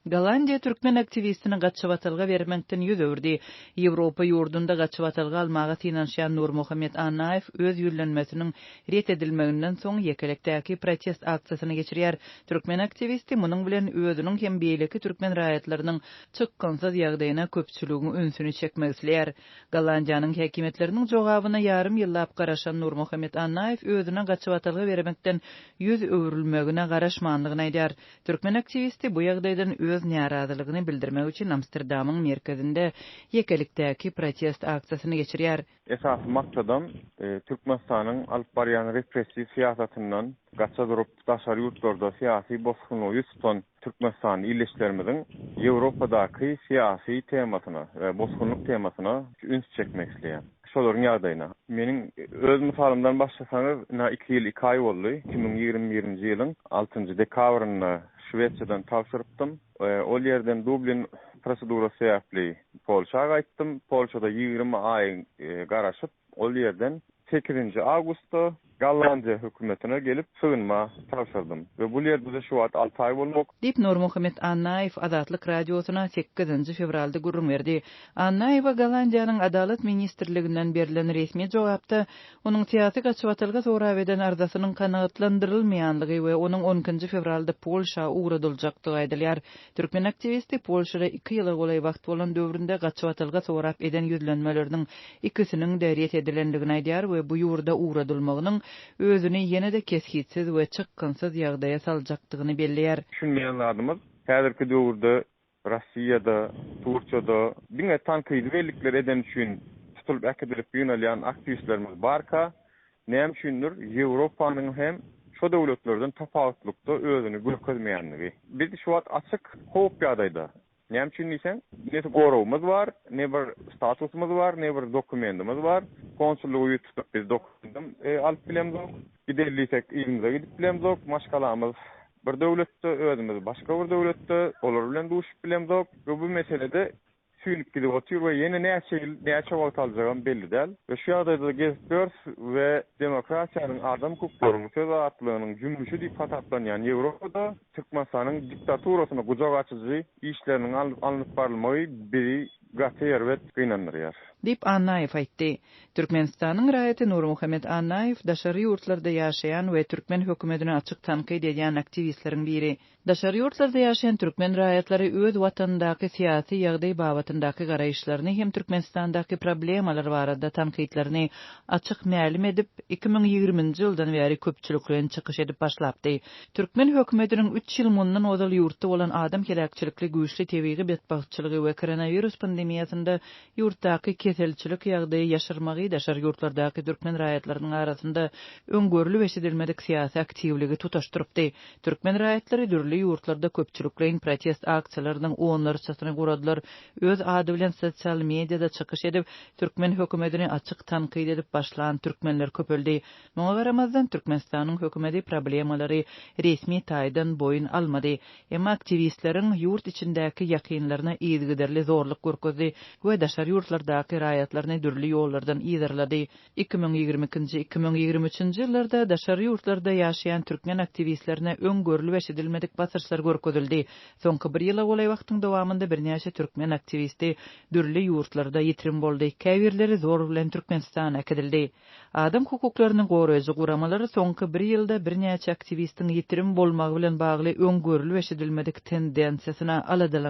Gollandiýa türkmen aktiwistini gaçybatalga bermekden ýüz öwürdi. Ýewropa ýurdunda gaçybatalga almaga synanyşýan Nurmuhammet Annaýew öz ýüzlenmesiniň ret edilmeginden soň ýekelikdäki protest aksiýasyny geçirýär. Türkmen aktiwisti munuň bilen özüniň hem beýleki türkmen raýatlarynyň çykgynsyz ýagdaýyna köpçüligiň ünsüni çekmek isleýär. Gollandiýanyň häkimiýetleriniň jogabyna ýarym ýyllap garaşan Nurmuhammet Annaýew özüne gaçybatalga bermekden ýüz öwrülmegine garaşmandygyny aýdýar. Türkmen aktiwisti bu ýagdaýdan öz närazylygyny bildirmek üçin Amsterdamyň merkezinde ýekelikdäki protest aksiýasyny geçirýär. Esasy maksadam Türkmenistanyň alyp barýan repressiw syýasatyndan gaça durup, daşary ýurtlarda syýasy bosgunlygy ýüz tutan Türkmenistan ildeşlerimiziň Ýewropadaky syýasy temasyna we bosgunlyk temasyna üns çekmek isleýär. Şolaryň ýagdaýyna, meniň öz mysalymdan başlasaňyz, ynha iki ýyl iki aý boldy, iki müň ýigrimi birinji ýylyň altynjy dekabrynda Şwesiýadan tabşyrypdym. Ol ýerden Dublin prosedurasy sebäpli Polşa gaýtdym. Polşada ýigrimi aý garaşyp, Ol ýerden sekizinji awgustda Gollandiýa hökümetine gelip sygynma tabşyrdym we bul ýerde-de şu wagt alty aý bolmak. Diýip, Nurmuhammet Annaýew Azatlyk Radiosyna sekizinji fewralda gürrüň berdi. Annaýewe Gollandiýanyň Adalat ministrliginden berlen resmi jogapda onuň syýasy gaçybatalga sorap eden arzasynyň kanagatlandyrylmaýanlygy we onuň on ikinji fewralda Polşa ugradyljakdygy aýdylýar. Türkmen aktiwisti Polşada iki ýyla golaý wagt bolan döwründe gaçybatylgy sorap eden ýüzlenmeleriniň ikisiniň-de ret edilendigini aýdýar we bu ýurda ugradylmagynyň özüni ýene-de kesgitsiz we çykgynsyz ýagdaýa saljakdygyny belleýär. Düşünmeýän zadymyz, häzirki döwürde Rossiýada, Turkiýada diňe tankydy bellikleri edeni üçin tutulyp äkidilip ýygnalýan aktiwistlerimiz barka, Näme üçindir, Ýewropanyň hem şo döwletlerden tapawutlykda özüni görkezmeýändigi. Biz şu wagt açyk howp ýagdaýda. Näme üçin diýseň, ne goragymyz bar, ne bir statusymyz bar, ne bir dokumentimiz bar. Konsullygy ýüz tutup biz dokumentam alyp bilemzok. Gideli diýsek, yzymyza gidip bilemzok. Maşgalamyz bir döwletde, özümiz başga bir döwletde. Olar bilen duşup bilemzok we bu meselede süýnüp gidip otyr we ýene näçe ýyl, näçe wagt aljagam belli däl we şu ýagdaýda-da gezip ýörüs we demokratiýanyň, adam hukuklarynyň, söz azatlygynyň jümmüşi diýip hasaplanýan Ýewropada Türkmenistanyň diktaturasyna gujak açyjy işleriniň alnyp barylmagy bizi gaty erbet gynandyrýar. Diýip, Annaýew aýtdy. Türkmenistanyň raýaty Nurmuhammet Annaýew daşary ýurtlarda ýaşaýan we türkmen hökümetini açyk tankyt edýän aktiwistleriň biri. Daşary ýurtlarda ýaşaýan türkmen raýatlary öz watanyndaky syýasy ýagdaý babatyndaky garaýyşlaryny hem Türkmenistandaky problemalar barada tankytlaryny açyk mälim edip, iki müň ýigriminji ýyldan bäri köpçülikleýin çykyş edip başlapdy. Türkmen hökümetiniň üç ýyl mundan ozal ýurtda bolan adam heläkçilikli güýçli tebigy betbagtçylygy we koronawirus pandemiýasynda ýurtdaky keselçilik ýagdaýy ýaşyrmagy daşary ýurtlardaky türkmen raýatlarynyň arasynda öň görlüp-eşidilmedik syýasy aktiwligi tutaşdyrypdy. Türkmen raýatlary dürli ýurtlarda köpçülikleýin protest aksiýalarynyň onlarçasyny guradylar, öz ady bilen sosial mediada çykyş edip, türkmen hökümetini açyk tankyt edip başlan türkmenler köpeldi. Muňa garamazdan, Türkmenistanyň hökümeti problemalary resmi taýdan boýun almady. Emma aktiwistleriň ýurt içindäki ýakynlaryna yzygiderli zorluk görkezdi we daşary ýurtlardaky raýatlaryny dürli ýollardan yzarlady. Iki müň ýigrimi ikinji, iki müň ýigrimi üçünji ýyllarda daşary ýurtlarda ýaşaýan türkmen aktiwistlerine öň görlüp-eşidilmedik basyrşlar görkezildi. Soňky bir ýyla golaý wagtyň dowamynda birnäçe türkmen aktiwisti dürli ýurtlarda ýitirim boldy, käbirleri zor bilen Türkmenistana äkidildi. Adam hukuklaryny goraýjy guramalar soňky bir ýylda birnäçe aktiwistiň ýitirim bolmagy bilen bagly öň görlüp-eşidilmedik tendensiýasyna aladalanýarlar.